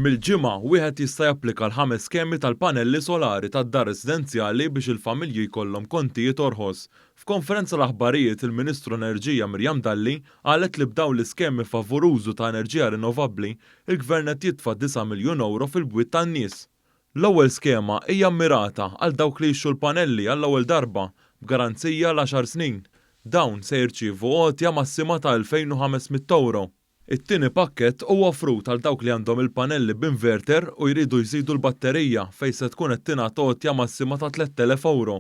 Mill-Ġimgħa, wieħed jista' japplika għal ħames skemi tal-panelli solari tad-dar residenzjali biex il-familji jkollhom kontijiet orħos. F'konferenza l-aħbarijiet, il-Ministru Enerġija Miriam Dalli qalet li b'dawn l-iskemi favur użu ta' enerġija rinnovabbli, il-Gvern qed jitfa' disa' miljun ewro fil-bwiet tan-nies. L-ewwel skema hija mmirata għal dawk li jixtru l-panelli għall-ewwel darba, b'garanzija għal għaxar snin. Dawn se jirċievu għotja massima ta' elfejn u ħames mitt ewro. It-tieni pakkett huwa offrut għal dawk li għandhom il-panelli b'inverter u jridu jżidu l-batterija fejn se tkun qed tingħata għotja massima ta' tlett elef ewro.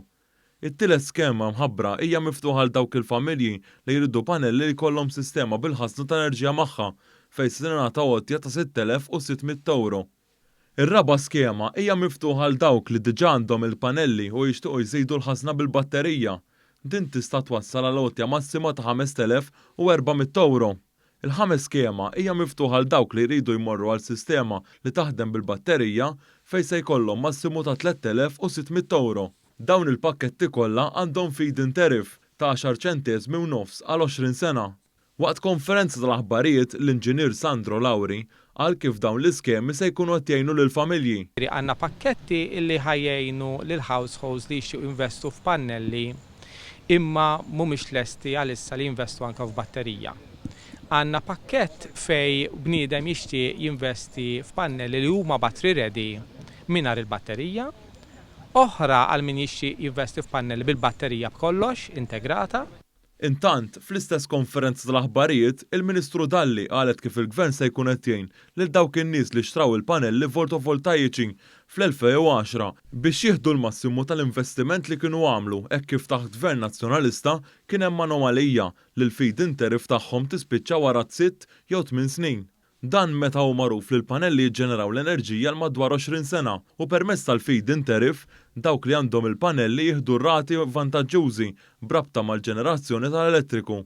It-tielet skema mħabbra hija miftuħa għal dawk il-familji li jridu panelli li jkollhom sistema bil-ħażna ta' enerġija magħha fejn se tingħata għotja ta' sitt elef u sitt mitt ewro. Ir-raba' skema hija miftuħa għal dawk li diġà għandhom il-panelli u jixtiequ jżidu l-ħażna bil-batterija. Din tista' twassal għal għotja massima ta' ħamest elef u erba' mitt ewro. Il-ħames skema hija miftuħa għal dawk li jridu jmorru għal sistema li taħdem bil-batterija fejn se jkollhom massimu ta' tlett elef u sitt mitt ewro. Dawn il-pakketti kollha għandhom feed-in tariff ta' għaxar ċenteżmi u nofs għal għoxrin sena. Waqt konferenza tal-aħbarijiet, l-Inġinier Sandro Lauri qal kif dawn l-iskemi se jkunu qed jgħinu lill-familji. Għandna pakketti li ħa jgħinu lil households li jixtiequ jinvestu f'pannelli imma mhumiex lesti għalissa li jinvestu anke f'batterija. Għandna pakkett fejn bniedem jixtieq jinvesti f'pannelli li huma battery ready mingħajr il-batterija, oħra għal min jixtieq jinvesti f'pannelli bil-batterija b'kollox integrata. Intant, fl-istess konferenza tal-aħbarijiet, il-Ministru Dalli qalet kif il-Gvern se jkun qed jgħin lil dawk in-nies li xtraw il-panelli voltovoltajiċi fl-2010 biex jieħdu l-massimu tal-investiment li kienu għamlu hekk kif taħt Gvern Nazzjonalista kien hemm anomalija li l-feed-in tariff tagħhom tispiċċa wara t-sitt jew tmien snin. Dan meta hu magħruf li l-panelli jiġġeneraw l-enerġija għal madwar 20 sena u permezz tal-feed-in tariff, dawk li għandhom il-panelli jieħdu rati vantaġġużi b'rabta mal-ġenerazzjoni tal-elettriku.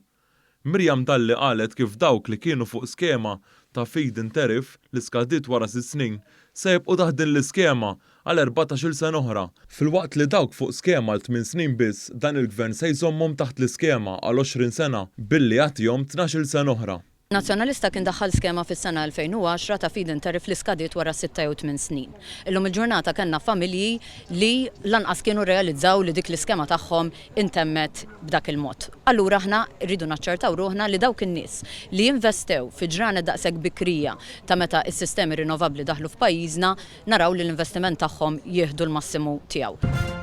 Miriam Dalli qalet kif dawk li kienu fuq skema ta' feed-in tariff li skadiet wara sitt snin se jibqgħu taħt din l-iskema għal erbatax-il sena oħra, filwaqt li dawk fuq skema għal tmien snin biss dan il-Gvern se jżommhom taħt l-iskema għal 20 sena billi jagħtihom tnax-il sena oħra. Nazzjonalista kien daħħal skema fis-sena 2010 ta' feed-in tariff li skadiet wara sitta jew tmien snin. Illum il-ġurnata kellna familji li lanqas kienu rrealizzaw li dik l-iskema tagħhom intemmet b'dak il-mod. Allura aħna rridu naċċertaw ruħna li dawk in-nies li investew fi ġranet daqshekk bikrija ta' meta s-sistemi rinnovabbli daħlu f'pajjiżna naraw li l-investiment tagħhom jieħdu l-massimu tiegħu.